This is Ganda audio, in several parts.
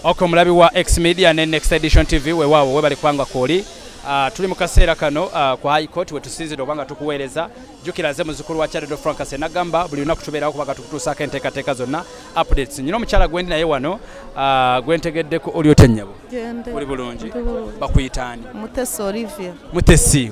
ok omulabi wa x media ne next edition tv wewaawo webali kubanga kwoli Uh, tuli mu kaseera kano uh, ku high court wetusinzidde oba nga tukuweereza jukira ze muzukulu wa chardo francas enagamba buli lunaku tubeerawo kubaga tukutuusaako enteekateeka zonna updates nyina omukyala gwendi naye wano uh, gwentegeddeko oli otennyabo oli bulungi bakuyitaani mutesi olivia mutesi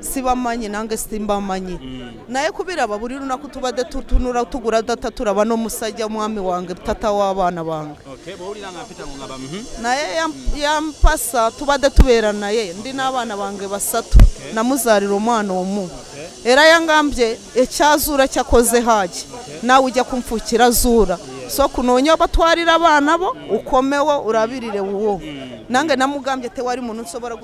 sibamanyi nange simbamanyi mm. naye kubiraba buri lunaku tubadde tutunura tugura data turaba n'omusajja omwami wange tata w'abaana bange mhm. naye yampasa tubadde tubeera naye ndi n'abaana bange basatu namuzarira omwana omu era yangambye ekyazuura kyakoze haji nawe ujya kumfukira zuura so kunoonya obatwarira abaana bo ukomewo urabirire wuwo mm. nange namugambye tewari muntu nsobora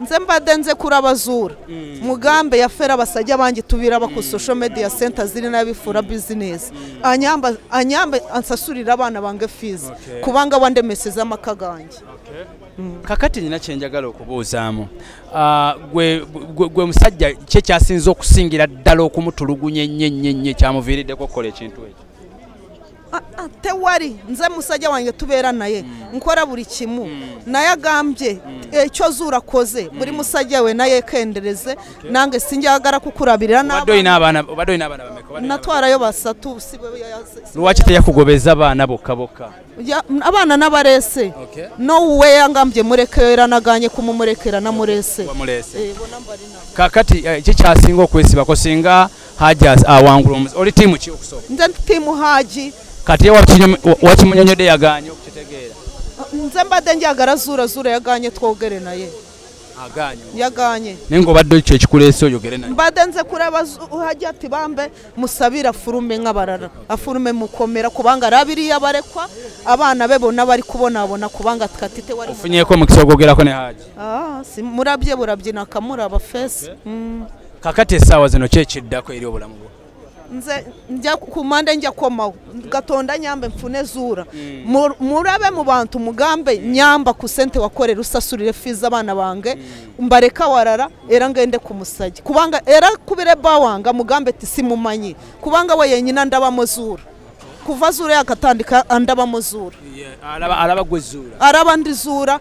nze mbadde nze kurabazura mm. mugambe yafera basajja bangi tubira ba ku mm. social media center ziri nabifura mm. business anyamba anyamba ansasurira abana bange fees kubanga wande message amaka gangi kakati nina kyenjagala okubuuzaamu ah, gwe musajja kye kyasinza okusingira ddala okumutulugunya ennyo ennyo ennyo kyamuviiriddeko okukola ekintu ekyo Ah, ah, tewari nze musajja wanjye tubeera naye mm. nkora buri kimu mm. naye agambye mm. ekyo eh, zuura koze buri musajja we naye kendereze nange sinjagara kukurabirira natwarayo basatu lwaki teyakugobeza abaana bokka bokka abaana nabarese nowuwe yangambye murekeyo era naganye kumumurekera namurese eh, kakati eh, kikyasinga okwesibako singa Haji awangula omuze. Oli timu ki okusooka? Nze timu Haji. Kati ewa wakimunyonyodde yagaanye okukitegeera. Nze mbadde njagala zuula zuula yagaanye twogere naye. Aganye. Yaganye. Nengo badde ekyo ekikuleese oyogere naye. Mbadde nze kuraba Haji ati bambe musabira furume nk'abarara. Afurume mukomera kubanga arabiriye abarekwa abana be bonna bari kubonabona kubanga tukatite wari. Ofunyeko mukisa ogwogerako ne Haji. Ah, si murabye burabye nakamura abafesi. Okay. Mm. kakati esaawa zino kyekiddako eri obulamu bwo nze nja ku mande nja komawo gatonda nyambe mfune zuura mm. murabe mu bantu mugambe mm. nyamba ku sente wakorera usasurire fiza abana bange mm. mbareka warara era ngende ku musajya kubanga era kubire bawanga mugambe ti simumanyi kubanga we yenyina ndabamo zuura kuva zuura yakatandika andabamo zuura araba gwe zuura araba ndi zuura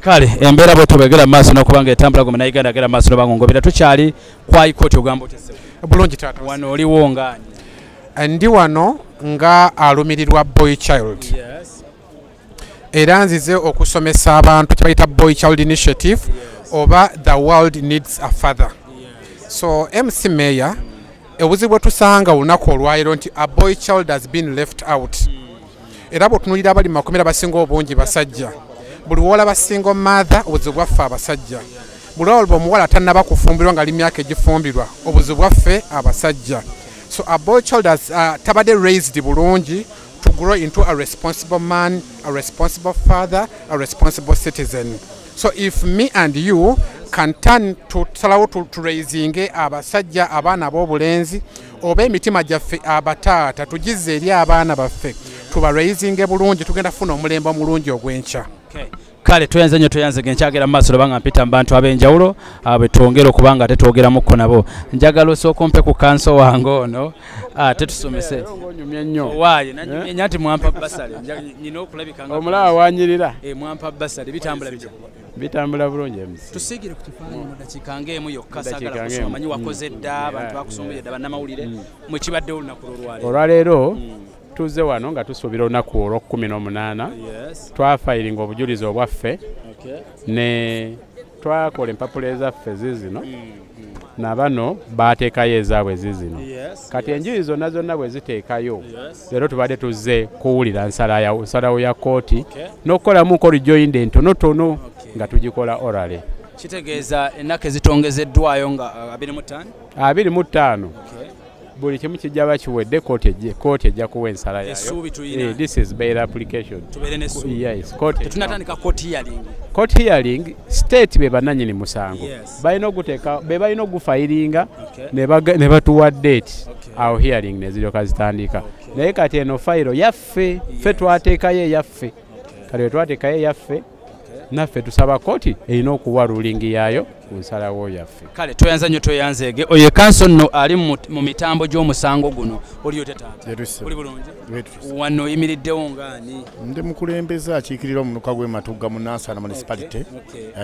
kale embeera bwe tubegera maaso nokubanga etambula gwe munayuganda agera maaso nobangongobera tukyali kwai kooti ogamba bulungi taata wano oliwo ngaani eh, ndi wano nga alumirirwa boy child era nzize okusomesa abantu kyebayita boy child initiative oba the world needs a father so mc mayor ebuzibu bwetusanga olunaku olwaliro nti a boy child has been left out mm. era bwotunulira abali mu makomera basinga obungi basajja buli wola basinga omaatha obuzibu bwaffe abasajja buli olba omuwala tanaba kufumbirwa nga li myaka egifumbirwa obuzibu bwaffe abasajja so a boy child as uh, tabadde raised bulungi to grow into a responsible man a responsible father a responsible citizen so if me and you can turn to salawo to, to raising abasajja abaana b'obulenzi oba emitima gyaffe abataata tugizze eri abaana baffe tubalweizinge bulungi tugenda kufuna omulembe omulungi ogw'enkya kale tweyanze nnyo tweyanze ge nkyagera mu maaso loba nga mpita mu bantu ab'enjawulo ah, bwe twongere okuba nga ate twogeramukko nabo njagala osooka ompe ku kanso wange ono ah, ate tusomese waaye nanyumye eh? nti mwampa basale nyina okulabika omulaba wanyirira eh, mwampa basale bitambula bitya bitambula bulungi emusi tusiigire ku kifaananyi mu dakiika ng'emu yokka sagala kusoma omanyi wakoze mm. dda abantu bakusumbire dda bannamawulire mm. mwe kibadde olunaku lwolwaleero olwaleero mm. tuze wano nga tusuubira olunaku olwokumi n'omunaana twafayiringa obujulizi obwaffe ne twakola empapula ezaffe zizino na bano baateekayo ezaabwe zizino kati enjuyi zonna zonna bwe ziteekayo leero tubadde tuzze kuwulira nsalawo ya kkooti n'okukolamu nkoli joinda entonotono nga tugikola orale kitegeeza ennaku ezitongezeddwayo nga uh, abiri mu ttaano buli kimu kijja bakiwedde kooti ejja kuwa ensala yayocourt hearing state be bananyini musango balina oguteka be balina ogufayiringa ne batuwa date awo hearing neziryoka zitandika naye kati eno fayiro yaffe fe twateekayo eyaffe kati wetwateekayo eyaffe naffe tusaba kooti erina okuwa rulingi yaayo ku nsalawo yaffe kale tweyanza nnyo tweyanzeege oyo ekanso nno ali mu mitambo gy'omusango guno oliyo tetaataoli bulungi wano oyimiriddewo ngaani ndi mukulembeze akiikirira omunuka gw'ematugga mu nansana municipality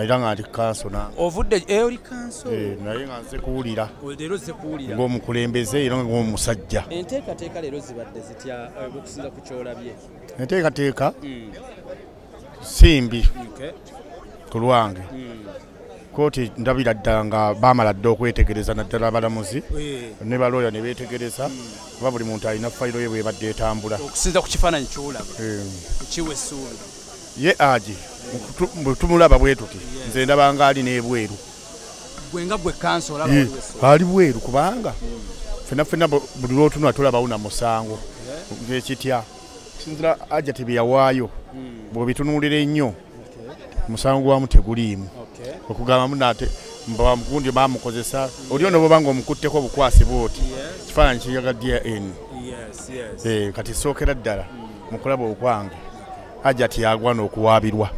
era nga ndi kanso na ovudde eh, oli kanso eh, naye nga nze kuwulira leero ze kuwulira ng'omukulembeze era ng'omusajja enteekateeka leero zibadde zitya eh, okusinza ku kyolabye enteekateeka hmm. simbi ku lwange kooti ndabira ddala nga baamala dda okwetegereza naddala abalamuzi eh. ne balooya ne beetegereza kuba buli muntu alina fayiro ye bwebadde etambula okusinza ku kifaananyi kyolaba eh. kiwa essuubi ye agi tumulaba bwe tuti nze ndaba nga ali n'ebweru gwenga gwe kanso olaba eh, ali bweru kubanga ffenna ffenna buli lwotunula tulabawo na musango ekitya sinzira ajati bye yawaayo hmm. bwebitunuulira ennyo musango gwamu teguliimu okugambamu nate mbagundi bamukozesa oli ono bobanga omukutteko obukwasi bwoti kifaananyi kiyaga dn eh, kati sookera ddala hmm. mukulaba okwange ajati yagwana okuwaabirwa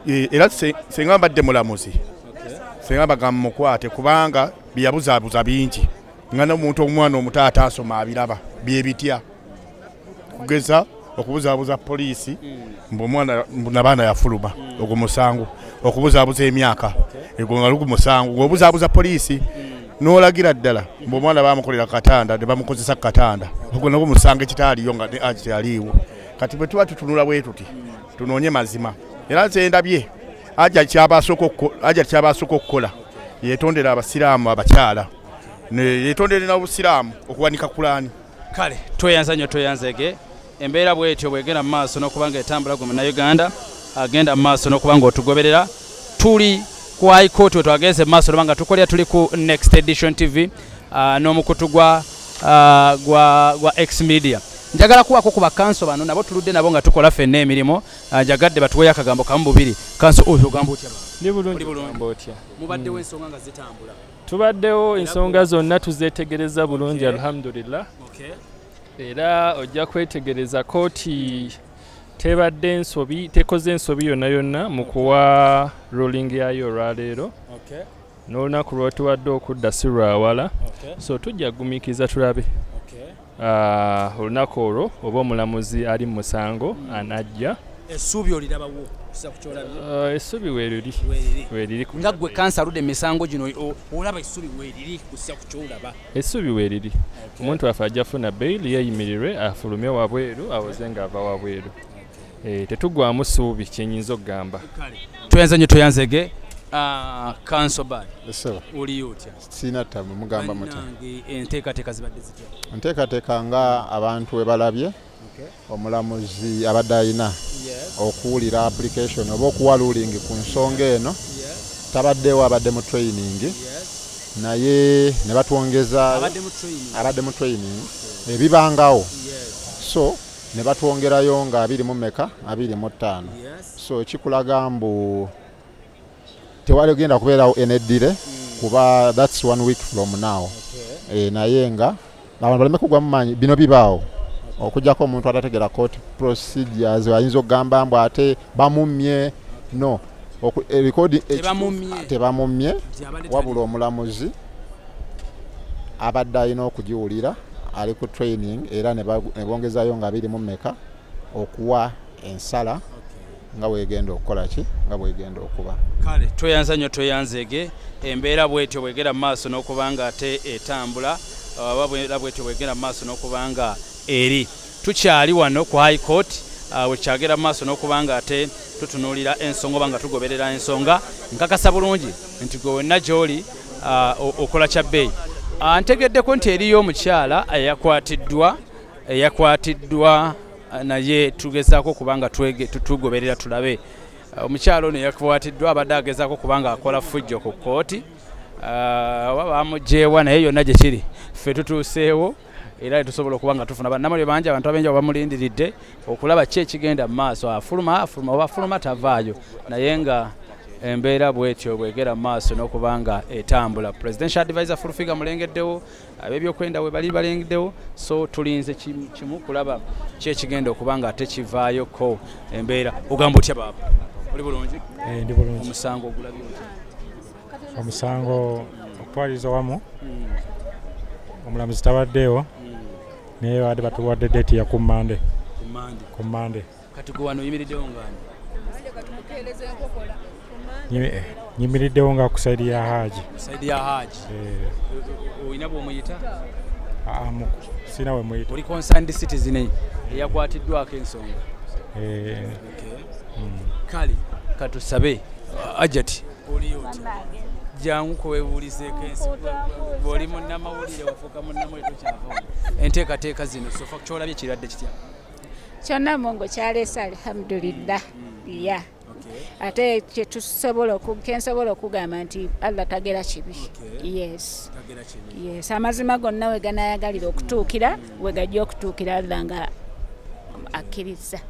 eh, era senga mbadde mulamuzi senga bagamba mukwate kubanga byeyabuzaabuza bingi nga nomuntu omwana omuto ataasoma abiraba byebitya kugeza okubuzaabuza poliisi mbu omwana nabaana yafuluma ogwo musango okubuzaabuza emyaka egwo nga lugu musango ngaobuzaabuza poliisi nolagira ddala mbu omwana bamukolera katanda ne bamukozesa ku katanda ogwo nagwo musango ekitaaliyo nga akyaliiwo kati bwe tuba tutunula bwe tuti tunoonye mazima era nze ndabye aja kyaba asooka okukola yetondera abasiraamu abakyala yetondere na busiraamu okuwanika kulaani kale tweyanza nnyo tweyanzege embeera bwetyo bwegenda mu maaso n'okuba nga etambula gwe munauganda agenda mu maaso n'okuba nga otugoberera tuli ku high court we twagenze mu maaso noba nga tukolera tuli ku next edition tv uh, n'omukutu gwa uh, gwa, gwa x media njagala kuwako ku bakanso bano nabo tuludde nabo nga tukola fenna emirimu uh, njagadde batuweyo akagambo kamu bubiri kanso oyo ogamba otya mubaddewo ensonga nga zitambula tubaddewo ensonga zonna tuzeetegereza bulungi alhamdulillah era ojja kwetegereza kooti tebadde ensobi tekoze ensobi yonna yonna mu kuwa ruling yayo olwaleero n'olunaku lwotuwadde okudda si lwawala so tujja kugumiikiriza tulabe Ah, olunaku olwo oba omulamuzi ali mu musango anajja essuubi olirabawo kisa kukyolabye ah, essuubi weriri weriri nga gwe kansa aludde emisango gino olaba essuubi weriri kusa kukyolaba essuubi weriri omuntu waffe ajja funa bail yeyimirirwe afulume wabweru awoze nga ava wabweru eh, tetugwamu ssuubi kyenyinza okugamba tweyanze nyo tweyanzege ah, kansobad oliyo otya sirina ttabu mugamba muti enteekateeka zibadde zitya enteekateeka nga abantu we balabye omulamuzi abadde alina okuwulira application oba okuwa luling ku nsonga eno tabaddewo abadde mu training naye ne batwongeza abadde mu training ebibangawo so ne batwongerayo nga abiri mu meka abiri mu ttaano so kikulaga mbu tewali genda kubeerawo eneddire hmm. kuba thats one week from now eh, naye nga abantu baleme kugwa mu maanyi bino bibaawo okujjako omuntu atategera court procedures ayinza okugamba mbu ate bamummye no eh, tebamummye eh, wabula omulamuzi abadde alina okugiwulira ali ku training era ne bongezayo nga biri mu meka okuwa ensala nga bwegenda okukola ki nga bwegenda okuba kale tweyanza nnyo tweyanzeege embeera bwetyo bwegera mu maaso n'okuba nga ate etambula oba bwera bwetyo bwegera mu maaso n'okuba nga eri tukyali wano ku high court uh, wekyagera mu maaso n'okuba nga ate tutunuulira ensonga oba nga tugoberera ensonga nkakasa bulungi nti gwe wenna gy'oli uh, okola kya bbeeyi uh, ntegeddeko nti eriyo omukyala eyakwatiddwa eyakwatiddwa naye tugezaako kubanga tugoberera tulabe uh, omukyalo ono yakwatiddwa abadde agezaako kubanga akola fujjo ku kkooti uh, oba bamugyewa naye yonna gye kiri ffe tutuuseewo era etusobola okuba nga tufuna banamulyo bangi abantu abenja bamulindiridde okulaba ki ekigenda mu maaso afuluma afuluma oba afuluma tavaayo naye nga embeera bwetyo bwegera mu maaso n'okuba nga etambula presidential advisor fulfiga mulengeddewo ab'ebyokwenda we bali balengdewo so tulinze kimu kulaba kyekigenda okuba nga ate kivaayoko embeera ogamba otya baaba oli bulungi eh, ndi bulungi omusango ogulabye omusango okutwaliriza wamu hmm. omulamuzi tabaddeewo hmm. naye baadde batuwadde deeti ya ku mande ku mande nyimiriddewo nga ku saidi ya haji saidi ya haji eh. olina bwomuyita ah, sina wemuyita oli concerned citizen eh. eyakwatiddwako ensonga eh. hmm. kale katusabe ajati oliyoti jangu kwebuulizeeko ensi bwoli munnamawulire wafuuka munnamawulire tokyavamu enteekateeka zino sofa kyolabye kirwadde kitya kyonna mungu kyaleese alhamdulillah ya ate kyetusobola kensobola okugamba nti allah tagera kibi yes yes amazima gonna we ganayagalira okutuukira we gajja okutuukira allah nga akkiriza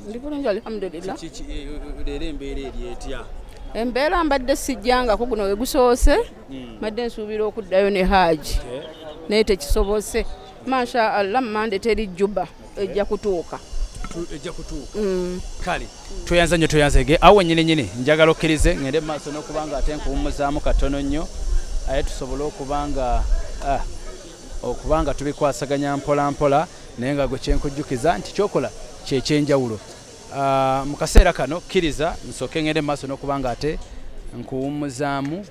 ndi bulungi alhamdulillah eh, eh, eh, embeera mbadde sijjangako guno wegusoose hmm. mbadde nsuubira okuddayo ne haaji naye tekisobose masha allah mande teri juba ejja kutuuka ejja kutuuka mm. kale tweyanza nnyo tweyanzege awo wenyini nyini njagala okkirize ŋende mu maaso n'okuba nga ate nkuwummuzaamu katono nnyo aye tusobole okuba nga ah, okuba nga tubikwasaganya mpola mpola naye nga gwe kyenkujjukiza nti kyokola kyekyenjawulo Ah, mu kaseera kano kkiriza nsooke ngende mu maaso n'okuba nga ate nkuwummuzaamu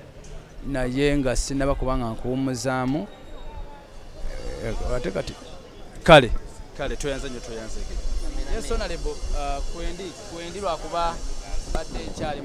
naye nga sinaba kuba nga nkuwummuzaamu eh, ate kati kale kale tweyanze nyo tweyanzege ensonalebo ah, kwendi kwendi lwakuba badde ekyali